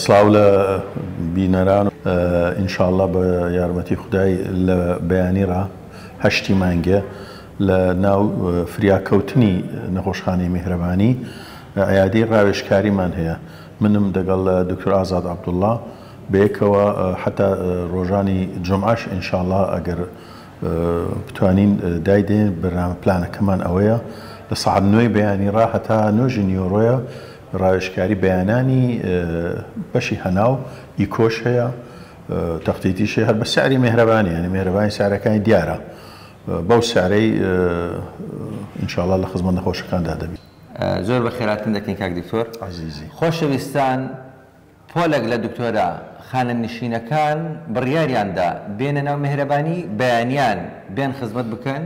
سڵاو لە بینەران و ئینشاڵڵا بە یارمەتی خودای لە بەیانی ڕا هەشتی مانگێ لە ناو فریاکەوتنی نەخۆشخانەی میهرەبانی عیادەی ڕاوێژکاریمان هەیە منم دەگەڵ دکتۆر ئازاد عەبدوڵڵا بەیەکەوە حەتا ڕۆژانی جومعەش ئینشاڵڵا ئەگەر بتوانین دایدەین بەرنامە پلانەکەمان ئەوەیە لە سەعات نۆی بەیانی ڕا هەتا نۆژی نیوەڕۆیە ڕاوێژکاری بەیانانی بەشی هەناو ی کۆش هەیە تەختیتیش هەیە هەر بە سعری مێهرەبانی یانی مێهرەبانی سعرەکانی دیارە بەو سعرەی ان شاء اللە لە خزمەت نەخۆشەکاندا دەبین. زۆر بەخێراتن دەکەین کاک دکتۆر. عەزیزی. خۆشەویستان پۆلێک لە دکتۆرە خانەنشینەکان بڕیاریان دا بێنە ناو مێهرەبانی بەیانیان بێن خزمەت بکەن،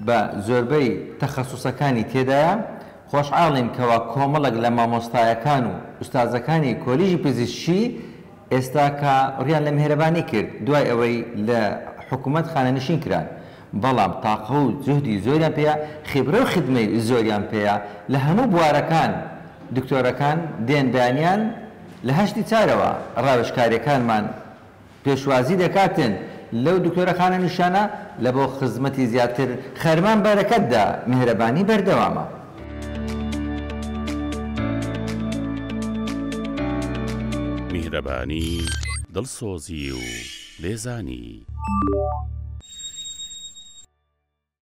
بە زۆربەی تەخەسوسەکانی تێدایە، خۆشحاڵین کەوا کۆمەڵێک لە مامۆستایەکان و ئوستازەکانی کۆلیژی پزیشکی ئێستا کە ڕویان لە میهرەبانی کرد دوای ئەوەی لە حکومەت خانەنشین کران بەڵام تاقە و جوهدی زۆریان پێیە خیبرە و خدمەی زۆریان پێیە لە هەموو بوارەکان دکتۆرەکان دێن بەیانیان لە هەشتی چارەوە ڕاوێژکاریەکانمان پێشوازی دەکاتن لەو دکتۆرە خانە نیشانە لە بۆ خزمەتی زیاتر خەرمان بەرەکەت دە میهرەبانی بەردەوامە. میهرەبانی دڵسۆزی و لێزانی.